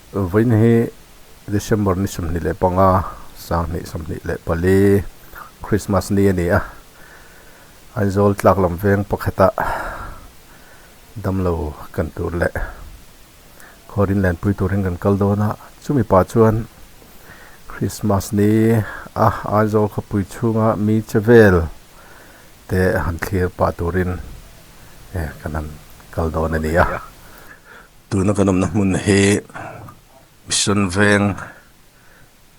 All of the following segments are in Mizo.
Vawiin hi December ni sawmhnih leh panga, sanghnih sawmhnih leh pali, Christmas ni a ni a, Aizawl tlak lam veng pakhata damlo kan tur leh khaw rinlenpui turin kan kal dawn a, chumi pah chuan Christmas ni a Aizawl khawpui chhunga mi che vel te han thlir pah turin kan han kal dawn a ni a. Tuna kan awmna hmun hi Mission veng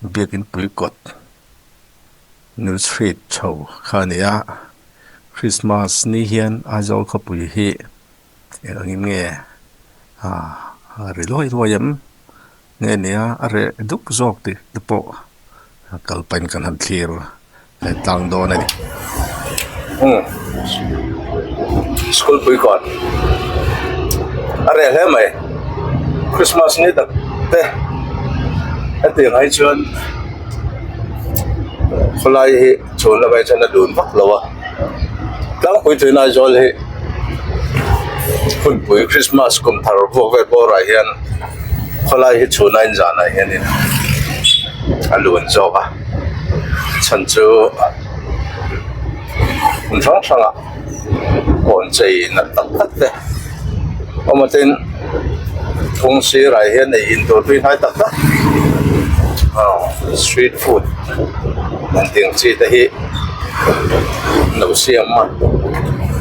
biakin pui kawt New Street tho kha a ni a, Christmas ni hian Aizawl khawpui hi eng angin nge a ri luai luai em? Nge nia a reh duk zawk tih te pawh kal pahin kan han thlir a han tlang dawn a ni. Umm school puikawn a reh hle mai Christmas ni tak te heti anghai chuan khawlai hi chhunna vei chuan a dun vak lo a. tlâng pui tûn Aizawl hi hunpui krismas kum thar vawk ve bâwrah hian khawlai hi chhûna inzâhnah hianin a lûn zâwk a chhan chu hmun hrang hrangah kâwn chei nalh tak tak te. Awmatin thung sirah hian hei in tur tui hnai tak tak aw street food an tih ang chi te hi no siam a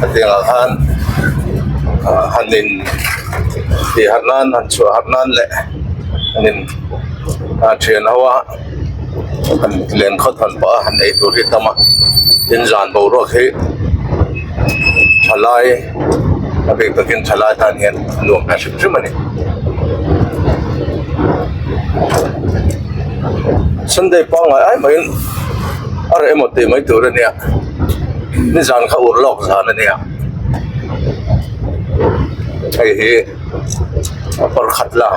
hetiang ah khan ah han in tih harh nan han chhuah harh nan leh han in ah thian ho a. han lem khat han pah a han ei tur hi a tam a tin zan boruak hi thalai a bik takin thalai tan hian a nuam hmel hrim hrim a ni sunday pangngai ai mai in a reh emaw tih mai tur a nia nizan kha ur lawk zan a nia hei hi-- a kawr khat la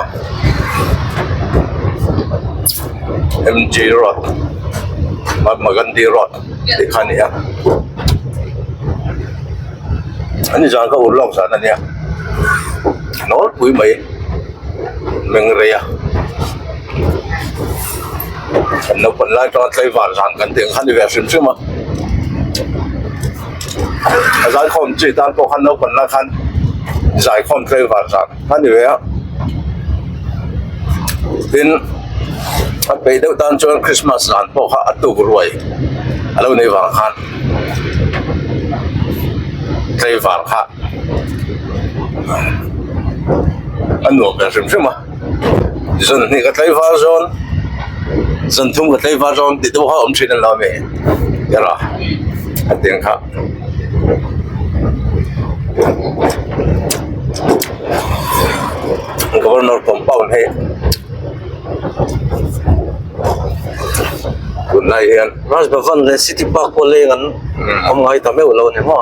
M G road mahatma gandhi road tih kha a ni a an inzam kha ur lawk zan a nia nawlpui mai menreia naupang lai tawng a tlaivar zan kan tih ang kha a ni ve hrim hrim a. a zaikhawm chi tan pawh khan naupang lai khan zaikhawm tleih van zan a ni ve a tin a peih deuh tan chuan Krismas zan pawh kha a tukruai a lo nei vang khan tleih van kha a nuam ve hrim hrim a. zawn hnih ka tlai var zawn zawn thum ka tlai var zawn tih te pawh kha awm thin an lo a mi yala hetiang kha governor compound hi tunlai hian rajbhavan leh city park pawh leng an awm ngai ta meuh lo a ni maw.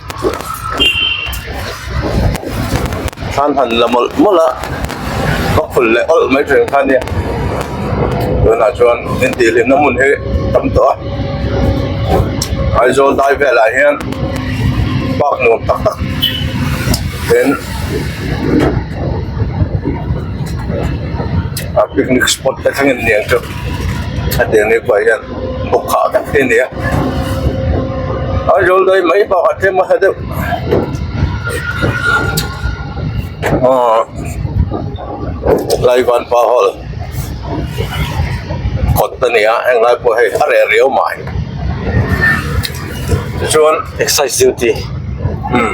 thlan han la mawlh mawlh a ka khul leh awlh mai thin kha nia tunah chuan intihhlimna hmun hi tam tawh a aizawl dai velah hian park nuam tak tak in picnic spot te thleng inniang chu hetiang nipa hian-- uk kha vek hi nia aizawl daih mai bakah tlem a sa deuh aw laivan pa haw la kawt ta nia heng lai pawh hei a reh riau mah hi tichuan exercise duty umm.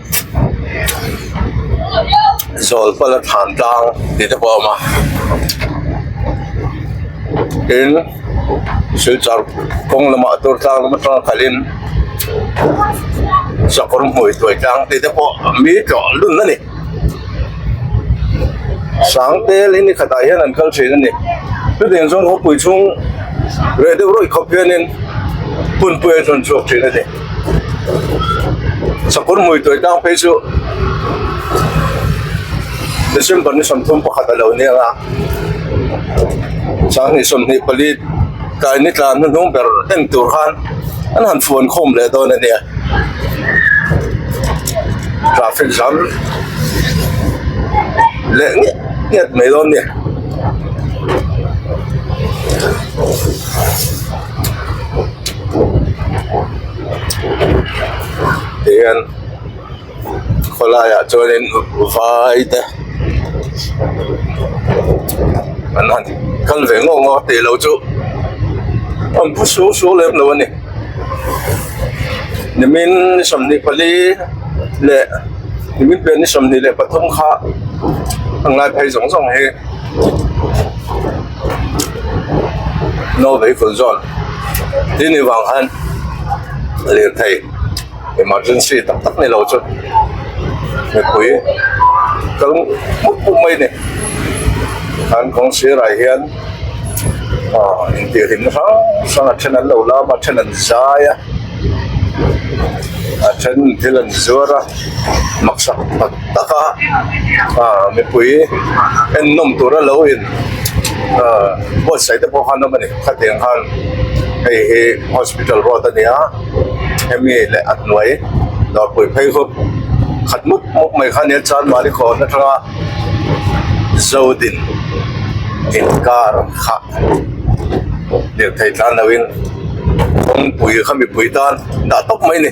zawlpala thlan tlang tih te pawh a awm a tin silchar kawng lamah tur tlang lam atanga khalhin chakawr hmui tuai tlang tih te pawh mi tlawh dun a ni sang tel hi ni khatah hian an kal thin a ni chutiang chuan khawpui chhung reh deuh ruih khawp hianin hmunpui a tun chhuak thin a ni. Sakawr hmuituai tang phei chu December ni sawmthum pakhat a lo nia a, sanghnih sawmhnih pali tlai ni tlan hnu hnung ber en tur khan an han fuan khawm leh dawn a nia, traffic jam leh ngiat ngiat mai dawn a ni. tih hian khawlaiah chuanin vaite an han kal ve ngawh ngawh a tih loh chu a bu su su lem lo a ni nimin ni sawmhnih pali leh nimin pian ni sawmhnih leh pathum kha a ngai phei zawng zawng hi. no vei kun zawn tin ni vang khan lirthei emergency tak tak nilo chu mipui kal put put mai ni an kawng sirah hian aw intih hlimna hrang hrang a then an lo lam a a then an zai a a then thil an zuar a maksa pakhat-- tak a ah mipui ennawm tura lo in ah buatsaih te pawh han awm a ni khatiang khan hei hi hospital ruat a ni a hemi leh a hnuai nawrpui phei ho khat mut mut mai kha nen chuan mahni khawr hla tanga zo din inkar kha lirthei tlan lo in kawngpui kha mipui tan dah tawp mai a ni.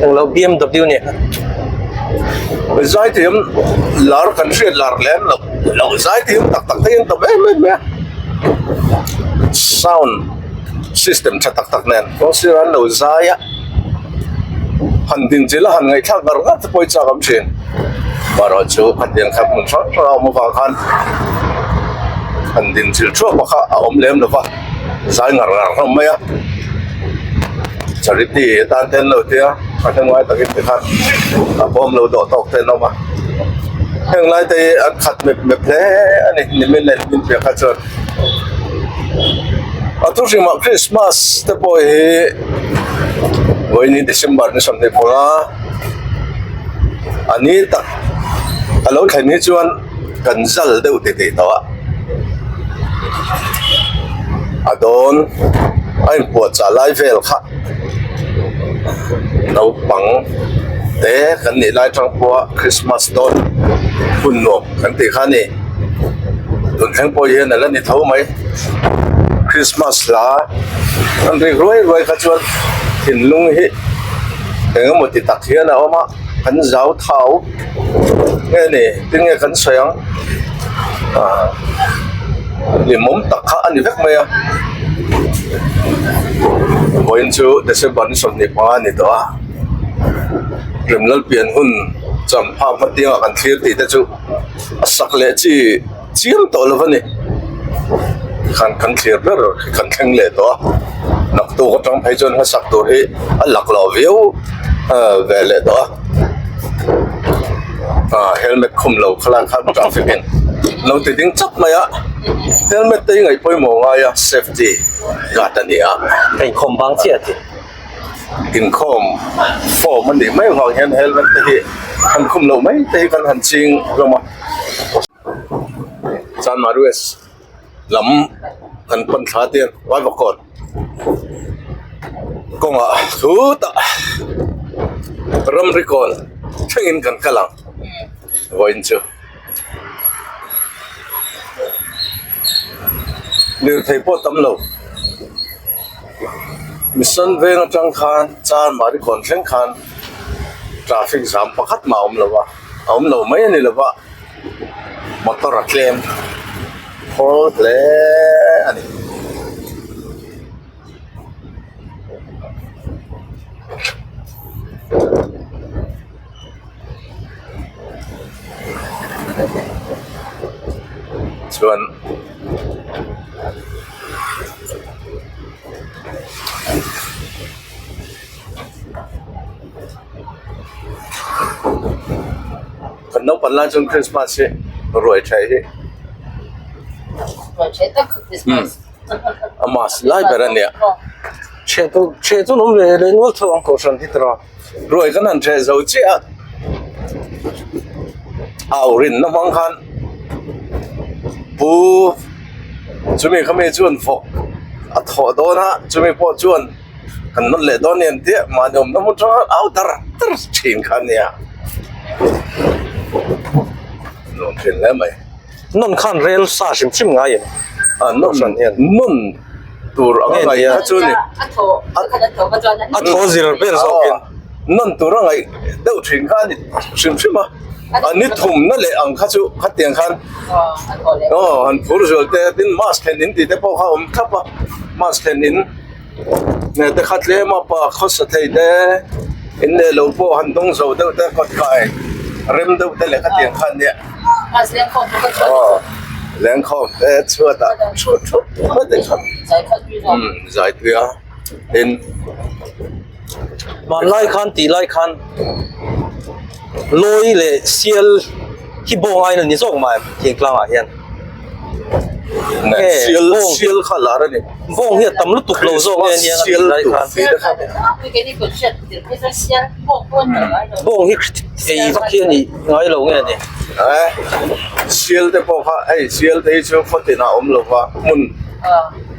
Hmu lo BMW nen a hawi zai thei ang lar kan hriat lar lem lo lo zai thei ang tak tak thei ang ta ber ber mai a sound system tha tak tak nen kawng sira an lo zai a han din chilh a han ngaihthlak ngar ngar te pawh hi chak awm thin maroh chu khatiang kha hmun hrang hrang a awm avang khan han din chilh thuak pahkha a awm lem lo va. zai ngar ngar hlawm mai a charity tan te an lo tia a hnuai takin mi khan a bawm lo dawh tawk te an awm a heng lai te hi an khat mep mep hle a ni nimin a inhlim piah kha chuan a thu hrim ah krismas te pawh hi vawi ni december ni sawmhnih pawnga a ni tak a lo thleng hi chuan-- kan zal deuh teh teh tawh a a dawn a in puahchah lai vel kha naupang te kan nih lai atang pawha krismas dawn hun nuam kan tih kha a ni tun thleng pawh hian a la ni tho mai krismas la an rik ruai ruai kha chuan thinlung hi engemaw ti tak hian a awm a. kan zau thau nge ni tin nge kan sawi ang ah hlim awm tak kha a ni vek mai a vawiin chu december ni sawmhnih hmanga a ni tawh a hlim lalpian hun champha hmatianga kan thlir tih te chu a sak leh chi-- chiang tawh lo va ni tikhan kan thlir ber khi kan thleng leh tawh a naktuk atang phei chuan hasak tur hi a lak lo viau ve leh tawh a ah helmet khum lo kha lai khan traffic in lo ti ding chap mai a helmet te hi ngaih pawimawh ngai a safety guard a ni a a inkhawm vang chiah a ti. inkhawm form a nih mai avang hian helmet te hi han khum loh mai te hi kan han ching hlawm a chanmah west lam kan pan thla te ralvak kawt kawngah thu tah ramri kawl thlengin kan kal ang vawiin chu. lirthei pawh tam lo mission veng atang khan char mahni kawn thleng khan traffic jam pakhat mah a awm lo va a awm lo mai a ni lo va motor a tlem khawl hle a ni. chuan kan naupang lai chuan Christmas hi ruai theih hi hmm a mas lai ber a nia hreh tur hreh tur awm ve leh nual thung ang kohhran hi tara. ruai kan han ṭheh zo chiah a au rinna hmang khan pu chumi kha mi chuan vawk a thawh dawn a chumi pawh chuan kan nawr leh dawn nen tih mahni awmna hmun ṭang au dar dar ṭhin kha a ni a nawr thin hle mai. Nawn khan rel sa hrim hrim ngaiin a nawm hran hian. Nawn tur anga ngaih kha chu a ni. A thaw khan a thaw kha chuan a ni. A thaw zir vel zawkin nawn tur a ngaih deuh thin kha a ni hrim hrim a. A ni thum na leh ang kha chu khatiang khan aw han phur zual te tin mask thlen in tih te pawh kha a awm thlap a. Mask thlen in. hete kha tlem a pa khawsa thei te in leh lo pawh han dawng zo deuh te kawt khai rem deuh te leh khatiang khan nia aw lengkhawk te chhuat ah thu thu thup mai te kha zaitui a tin-- hmanlai khan tih lai khan lawi leh sial hi bawng aina ni zawk mah em thing tlangah hian bawng hi a tam lutuk lo zawk nge nia a tih lai khan bawng hi ei vak hi a nih ngai lo nge ni sial te pawh kha ei sial te hi chu khaw tinah a awm lova hmun.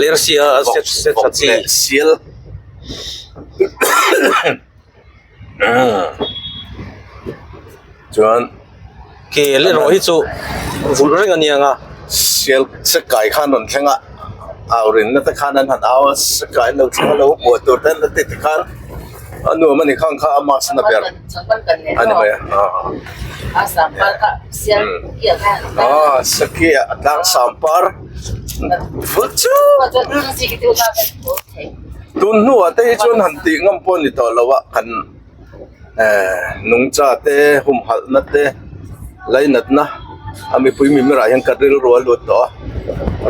Lersia a set set a chi. Sial chuan ke leraw hi chu vulh reng aniang a sial set kai khan rawn thleng a au rinna te khan an han au a set kai an lo thleng a lo buai tur te an la ti ti khan a nuam a ni khang kha a mask in a ber a ni mai a a sampar kha sial kiah kha a ni mai a a sakia a tlang sampar. tun hnuah te hi chuan han tih ngam pawh a ni tawh lo a kan nungcha te humhalhna te lainatna a mipui mimirah hian ka rilru a lut tawh a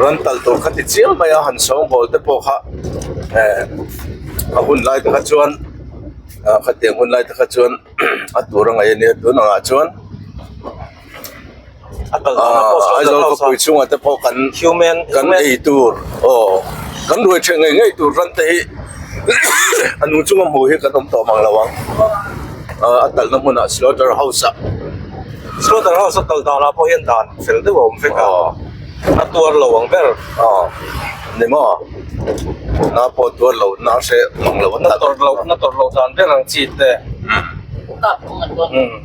rantal tur kha ti chiang mai a han sawnghawl te pawh kha a hunlai te kha chuan khatiang hunlai te kha chuan a tur a ngaih a nia tunah chuan-- Aizawl khawpui chhungah te pawh kan kan ei tur aw kan ruai ṭheh ngei ngei tur ran te hi a nung chunga hmuh hi kan awm tawh mang lo ang a kalna hmunah slaughter house ah slaughter house a kal danah pawh hian dan fel deuh a awm vek a a tuar lo ang ber aw ni maw tuna pawh tuar loh na hreh hmang lo a ni maw na tawrh loh na tawrh loh dan ber ang chi te umm.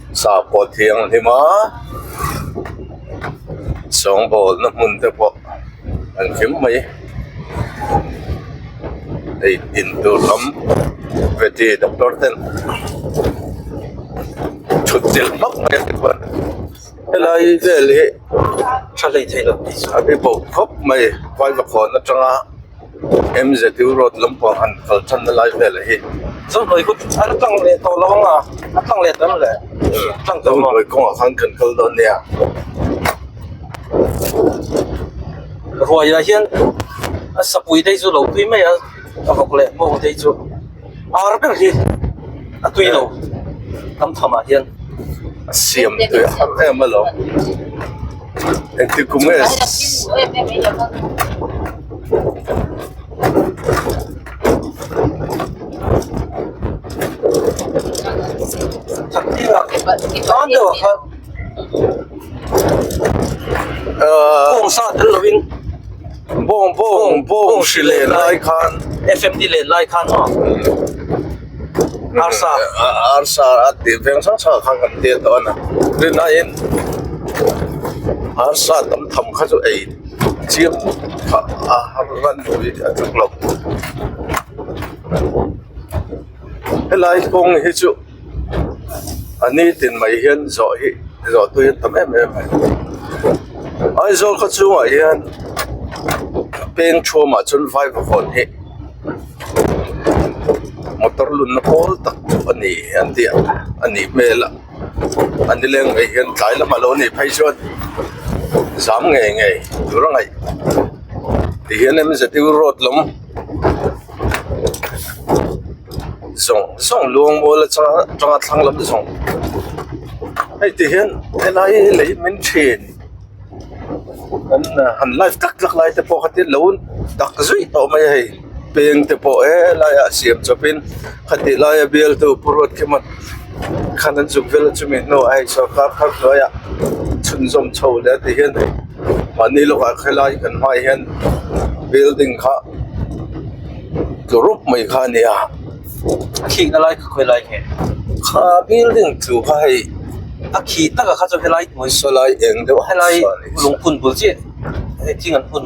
sakawr thianghlim a sawngawlna hmun te pawh an fim mai hei tin tur lam vete doctor ten thut chelh hmak mai ang te chuan helai vel hi a hribo khawp mai vai va khawn atanga. MZU road lampang han kal chhan na lai velah hi Zau Hlawih kut an tlang leh tawh lo ang a, a tlang leh tawh em le? A tlang tawh em aw? Zau Hlawih kawngah khan kan kal dawn nia. Ruaia hian a sapui te chu lo tui mai a, a vawk leh bawng te chu. Ar ber hi a tui lo tam tham ah hian a siam tui a harh em alo engtin kum nge Takira, tan deuh a khan Kawng sa tel lo in Bawng bawng bawng hri leh lai khan FM ni leh lai khan maw arsa arsa a tih veng sang sang khan kan tel tawh a na tin a in arsa tam tham kha chu ei chiang kha a ran lui a chak lo helai kawng hi chu-- a ni tih mai hian zawh hi zawh tu hi an tam em em mai aizawl khaw chhungah hian peng thum ah chuan vai ka vawn hi motor lun na pawl tak a ni ang tih a nih hmel a a ni leng mai hian tlai lam alo ni phei chuan zam ngei ngei tura ngaih tihian M_Z_U road lawng-- zawng zawng luangmual a chang a chang a thlang lam zawng hei ti hian he lai hi lei min thin kan han live tak tak lai te pawh kha tin lo dak zui tawh mai a hei peng te pawh he lai ah siam chawp in-- Khatih laia bialtu Pu Ruatkhemat khan an zuk vel a chumi hnu ah hei sorkar phar hnuaia chhunzawm chho leh a tih hian hei mahni lawkah khelai kan hmai ah hian building kha tlu rawp mai kha a ni a khihna lai kha khawih lai kha a ni kha building tlu kha hei a khih takah kha chu helai hnuai sawi lai eng deuh a ni a lungphun bul chiah thing an phun.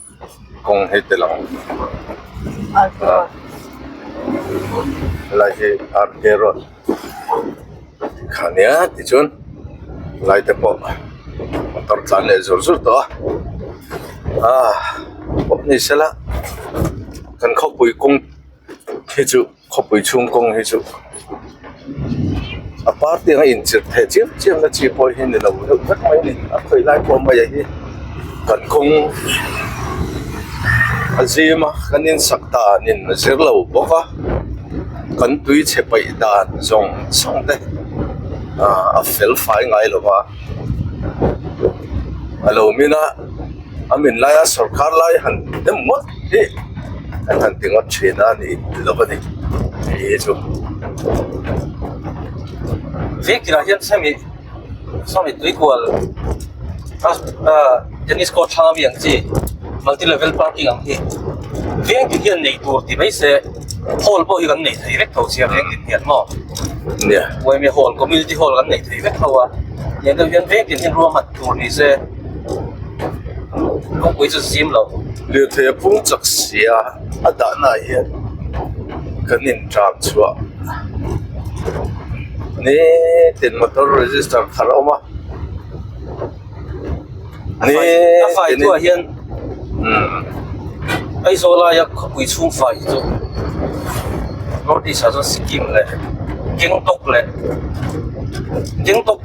kawng hi te lang ah helai hi ar ke road tih kha nia tichuan helai te pawh motor tlan leh zur zur tawh a ah pawp ni sela kan khawpui kawng khi chu-- Khawpui chhung kawng hi chu a par tiang a in chirh theh chiam chiam na chi pawh hi ni lo deuh vek mai a ni a khawih lai pawh mai ah hi kan kawng a zim a kan in sak dan in a zir lo bawk a kan tui chhe paih dan zawng zawng te ahh a fel fai ngai lo va a lo min a. an min laia sawrkar lai han em ngawt hi an han ti ngawt thin a nih lo va ni ih chu vek tirah hian semi semi tuikual tennis court thlang ami ang chi multi level parking ang hi vek ti hian nei tur ti mai se hall pawh hi kan nei thei vek tho sia vek ti hian maw nia uaimi hall community hall kan nei thei vek tho a nia deuh hian vek ti hian ruang han Tur ni se Lungpui chu zim lo. Lirthei a pung chak sia a dahnaah hian kan inṭam chhuah ni tiin motor register kharh a awm a ni a faitu ah hian Aizawlai a khawpui chhung fai chu north east ah chuan sikkim leh gangtok leh gangtok--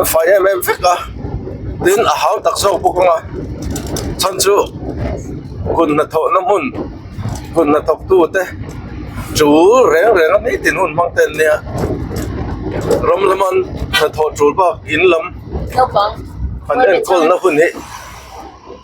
a fai em em vek a tin a hau tak zawk bawk a chhan chu kun hnathawh na hmun kun hnathawk tu te chu reng reng a hming tin hun hmang te an nia ram lama hnathawh tul bak in lam an enkawl na hun hi--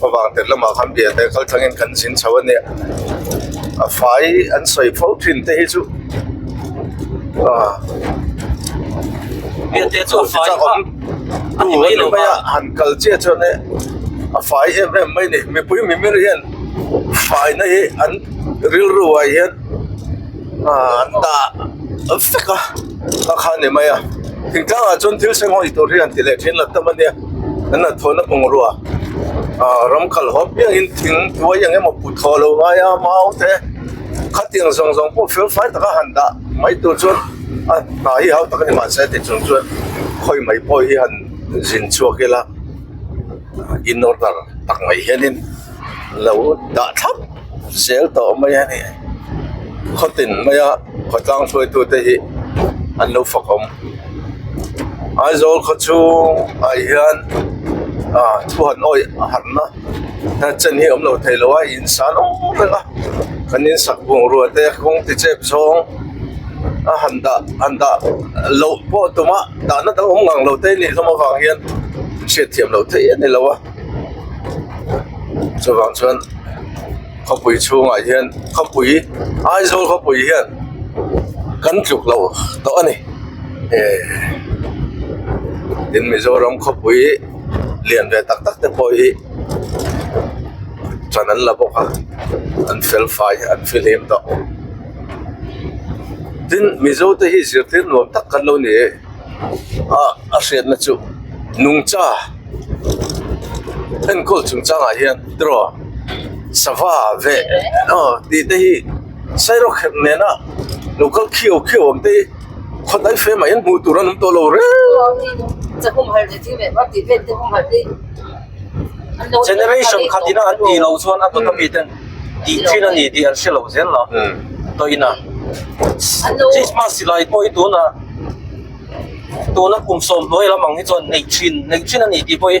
Khawvang tel lamah khan bia te kal thangin kan zin chho a nia, a fai an sawi pho thin te hi chu bia te chu a fai vak a ni mai lo va, han kal chiah chuan hi a fai em em mai ni, mipui mimir hian fai na hi an rilru ah hian an dah vek a, a kha a ni mai a, thingtlang ah chuan thil seng hawi tur hi an ti leh thin a tam a nia. Nana thawhna bungrua ah ram kal hawp piang in thing tuai eng emaw put thawh lo ngai a, mau te khatiang zawng zawng pawh fel fai taka han dah mai tur chuan a hna hi hau tak a ni mah se ti chung chuan khawi mai pawh hi han zin chhuak ila in order tak mai hian in lo dah thlap. sel tawh mai a ni khawtin mai a khaw tlang hruaitu te hi an lo fakawm aizawl khaw chhungah hian ah thu han awih a han na a chen hi a awm lo thei lo a in san awm vek a kan in sak bungrua te kawng ti chep zawng a han dah han dah loh pawh tumah dahna dang awm ngang lo te a nih hlawm avang hian hriat thiam lo thei a ni lo a. chuvang chuan khawpui chhungah hian khawpui aizawl khawpui hian kan tluk loh tawh a ni ehh tin mizoram khawpui lian ve tak tak te pawh hi hran an la bawk a an felfai an fihlim tawh tin mizo te hi zirtir nuam tak kan lo ni e. ah a hriatna chu nungcha enkawl chung changah hian draw sava ve aw tih te hi sairaw khelh nena lokal khiau khiau ang te hi khaw dai fem ah hian hmuh tur an awm tawh lo reng. Generation khat ina an ti lo chuan a tawta miten tih thin a ni tih an hre lo zel la. Toina Christmas silai pawh i tuna tuna kum sawm hnuai lam ang hi chuan nei thin nei thin a ni tih pawh hi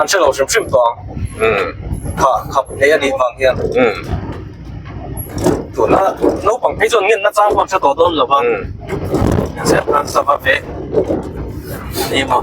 an hre lo hrim hrim tawh ang. Kha khap hle a nih vang hian. Tuna naupang phei chuan ngenna chang pawh an hre tawh dawn lo va. Inziak nan sava ve a ni maw.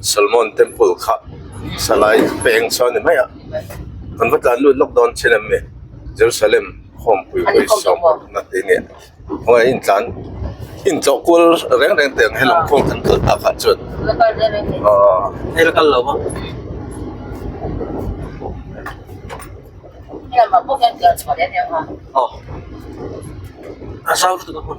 Solomon temple kha salai peng chu a ni mai a kan va tlan lut lawk dawn chin em ni Jerusalem home pui pui sawm na tih nge hawai in tlan in tlawh kual reng reng te ang hi lam khawng kan kal ta kha chuan aw hei la kal lo va aw a zau lutuk a hmun.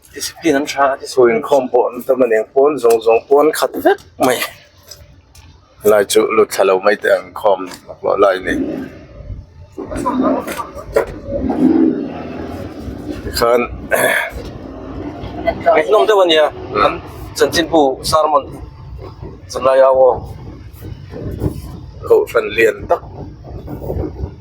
Discipline an tha a ti chu inkhawm pawh an tam a ni pawn zawng zawng pawn an khat vek mai helai chu lut thla lo mai te ang inkhawm hlawh hlawh lai a ni tikhan an hnawm deuh a nia an chanchinbu sermon cham lai a aw kohhran lian tak.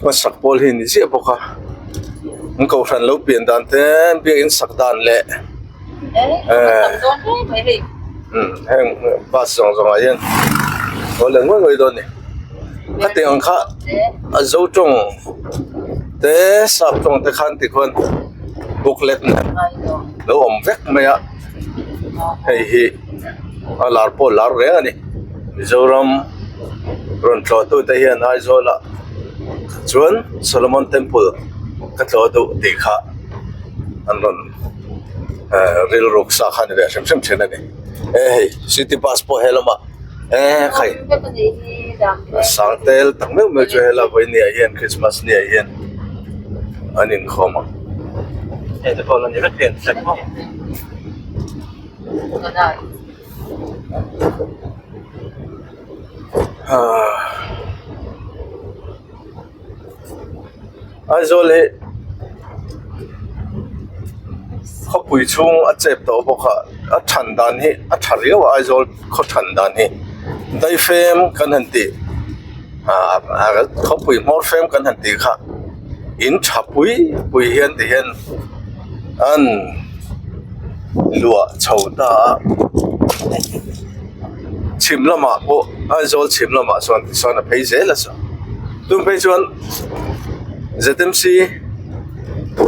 hmasak pawl hi a ni ziah bawk a an kohhran lo pian dan te biakin sak dan leh heng bus zawng zawng ah hian a haw leh ngawih ngawih dawn a ni hetiang ang kha a zo tawng te sap tawng te khan tikhuan booklet nen lo awm vek mai a hei hi-- a lar pawh lar reng a ni mizoram rawn thlawh tu te hian aizawl ah chuan solomon temple ka thlawh duh tih kha an rawn ehh rilru sa kha a ni ve hrim hrim thin a ni e hei city bus pawh he lamah ehh sang tel tak meuh meuh chu he la vawi ni ah hian krismas ni ah hian an inkhawm ang. Aizawl hi khawpui chhung a chep tawh bawk a a than dan hi a tha riau a Aizawl khaw than dan hi daifem kan han tih khawpui hmawr fem kan han tih kha. in tha pui pui hian ti hian an luah chho ta a chhim lamah pawh aizawl chhim lamah sawn ti sawn a phei zel a sawn tum phei chuan zmc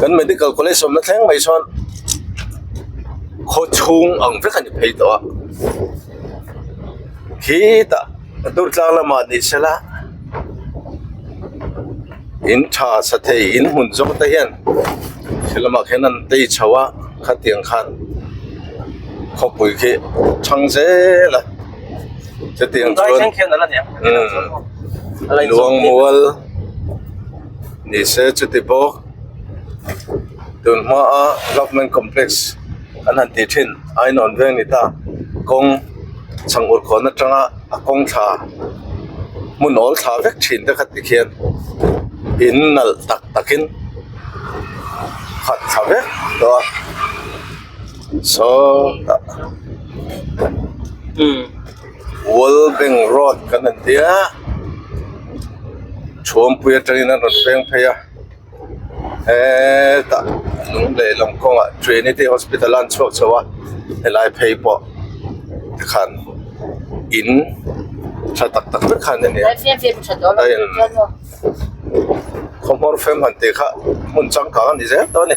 kan medical college awmna thleng mai sawn khaw chhung ang vek a ni phei tawh a khi ta-- a hnur tlang lamah ni se la in tha sa thei in hmun zawng te hian he lamah khian an tei chho a khatiang khan khawpui khi chhang zel a chutiang chuan umm luang mual ni se chuti bawk tun hma ah apartment complex -- Kan han tih thin, ai nawn veng ni ta, kawng chhang ur khawhna tanga a kawng thla hmu nawl thla vek thin te khat tikhian in nalh tak takin khat thla vek tawh a, saw tah Walbeng Road kan han tia, Chhuampui atangin an rawn feng phei a. hetah hnung leh lawng kawngah trinity hospital a an chhuak chho a helai phei pawh khan in tha tak tak mai khan a ni a a in kawngpawr fem han tih kha hmun changkang a ni zel dawn a ni.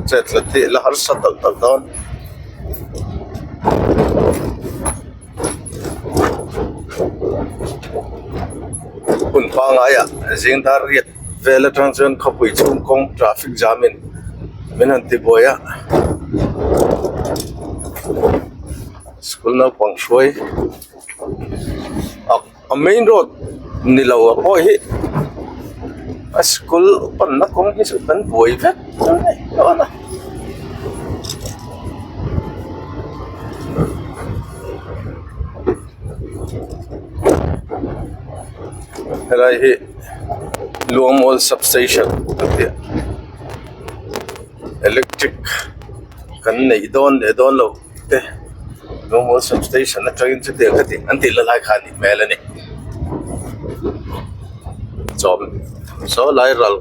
chetla teh la harsa tak tak dawn hun pangai ah zing dar riat vel atang chuan khawpui chhung kawng traffic jam in min han ti buai a school naupang hruai ak-- a main road ni lo ang pawh hi a school pawnna kawng hi chu kan buai vek mai mai dawn a. Helai hi Luangmawal sub station a ni a electric kan neih dawn leh dawn lo. te rawnggaw sub station atangin chuti ang khatin an tih la lai kha a nih hmel a ni chawp saw lai ral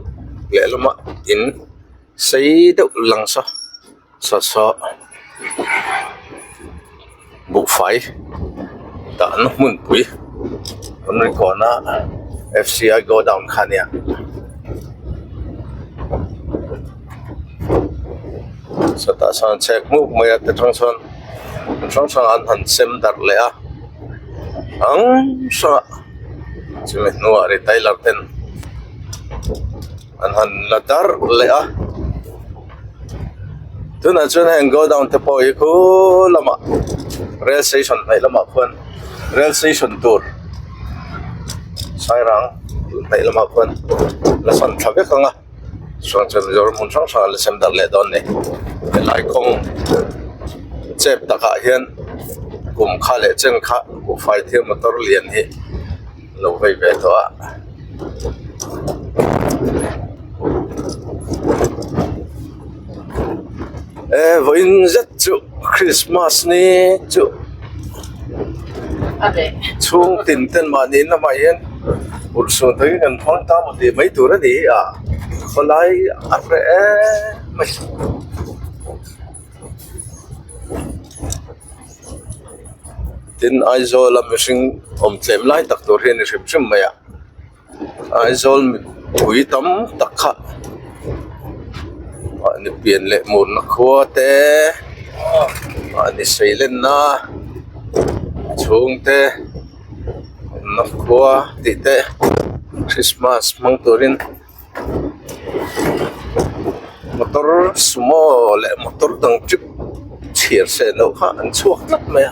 lehlama in sei deuh langsâ chawt saw buhfai dahna hmunpui ramrikhawna fci godown kha a ni a. chhuatah sawn an chhek nghuk mai a ti hrang hrang ti hrang hrang an han sem darh leh a hrang hrang a chumi hnuah retailer ten an han la darh leh a tunah chuan heng godown te pawh hi khaw lamah rail station hnaih lamah khuan rail station tur sairang hnaih lamah khuan la chhan thla vek ang a. suan ṭha mizo ram hmun hrang hrang an la sem darh leh dawn a ni helai kawng chep takah hian kum kha leh chen kha buhfai thlir motor lian hi a lo vei ve tawh a. eh vawiin zet chu krismas nge chu chhung tin ten mah ni na mah hian ulh suh tai hian kan hmang ta mawh tih mai tur a ni hi a khawlai a hre emai. Tin Aizawl a mihring awm tlem lai tak tur hi a ni hrim hrim mai a. aizawl mipui tam tak kha mahni pian leh mutna khua te mahni sailenna chhungte awmna khua tih te krismas hmang turin motor sumo leh motor dang chip chhiar seh loh kha an chhuak tlat mai a.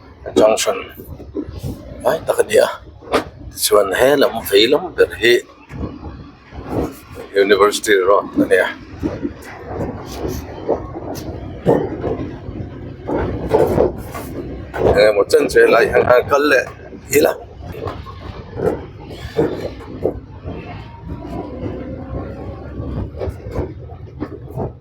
junction hnai tak a ni a tichuan he lam vei lam ber hi university road a ni a.